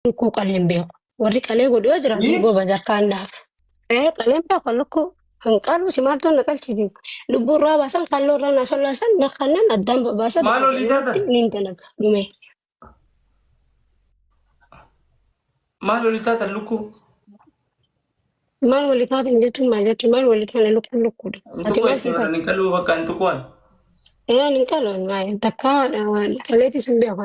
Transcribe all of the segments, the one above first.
Lukkuu qalee hin beeku. Warri qalee godhu yoo jiraatu Ni? goba jarkaan dhaaf. Ee qalee hin beeku lukkuu. Kan qaluu si maaltu na qalchiisiisa. Lubbuu irraa baasan kalloo irraa na sollaasan na kannan addaan babaasan. Maal olii taatan? Niin dalaga dhumee. Maal olii taatan lukkuu? Maal walii taatan jechuun maal jechuun maal walii taana lukkuun lukkuudha. Ati maal sii taate? Qaluu bakka hin tuqwan. Ee ani hin qalu takkaa qaleetis hin beeku.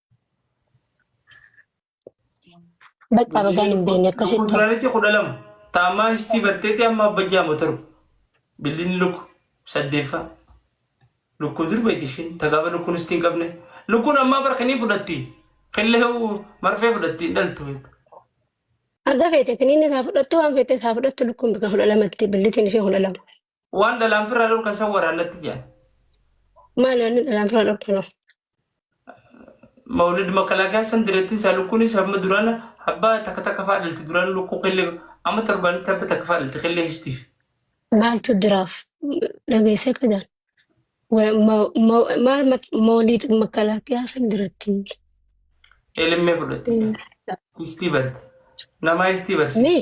Bakka bagaan hin beekne akkasitti ta'u. Kontiraaliti kudha lama. Taamaa histii batteeti amma abba jaama taru. Billinni lukku saddeeffaa. Lukkuun sirbeeti ishiin. Tagaaba lukkuun histii hin qabne. Lukkuun ammaa barka ni fudhatti. Killee marfee fudhatti hin dhaltu. Haga feete kiniinni isaa fudhattu waan feete isaa fudhattu lukkuun bakka kudha lamatti billitiin ishee kudha lama. Waan dhalaan firraa dhorkan san waraan natti jedhan. Maal waan dhalaan firraa dhorkanoo? Mawlid makalaakaan san dirattiin isaa lukkuunis hamma duraan abbaa takka takka fa'aa dhalti duraan lukkuu killee amma torbaanitti abba takka fa'aa dhalti killee histiif. Maaltu diraaf dhageessee qadaan? Maal mawlid makalaakaan san dirattiin? Eelimmee fudhatte. Histii barte. Namaa histii barsiifte. Mee?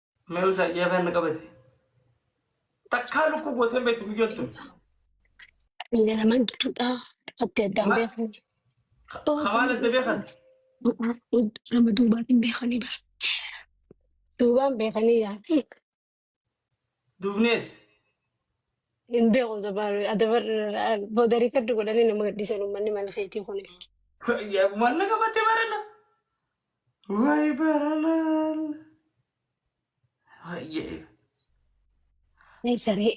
Mee usaa ijaa afaan na qabate. Takkaa lukkuu gootee hin beektu guyyoon tun. Inni nama gidduudha. Adda addaan Ma- beekamu. Kamaan adda beekan. Nama duubaatiin beekanii bara. Duubaan beekanii yaa'u. Duubnees. Hin beeku dabar dabar booda riikardi godhanii nama gadhiisan uummanni mana keetii kuni. Yaa maal na qabate barana. Way baralal. Hayyee. Ee saree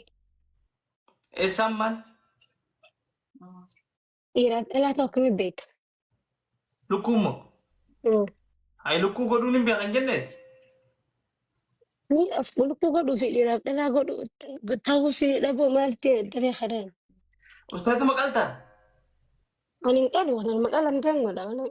Eessaan maal? dhiiraaf dhalaa ta'u akkamitti beekta? Lukkuu immoo. Mm. Ayi lukkuu godhuun hin beekan jenne. Ni of lukkuu godhuu fi dhiiraaf dhalaa godhu ta'uu si dhabuu maalti damee kanaan. Ustaaza maqaltaa. Ani hin qalu waan maqaa lamtaan godha waan.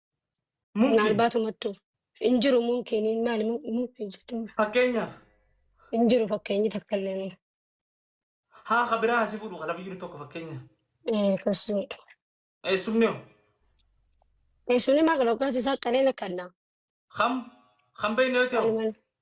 Mumkin. Maalbaatu mattu. Hin jiru mumkin maali mumkin jechuun Fakkeenyaaf hin jiru fakkeenyi takka illee miti. haa ka biraa hasi fuudhu ka lafa jiru tokko fakkeenyaaf. Eh, Akkas jedha. Eessumni hoo? Eh, Suni maal qaba? Akkas isaa qaleen akka addaa. Kam? Kan beekne yoo ta'u. Maal maal?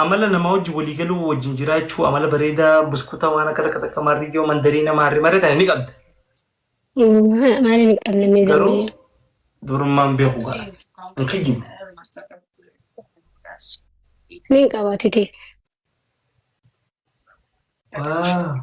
amala namaa wajjin walii galuu wajjin jiraachuu amala bareedaa buskutaa waan akka takka takka maarriyyoo mandarii nama harri maree tana ni qabda. Ma- Maali ni qabna mee Garuu zambilee? durummaan beeku ga'a. Hin kijjibu. Ni qabaatite. Waa.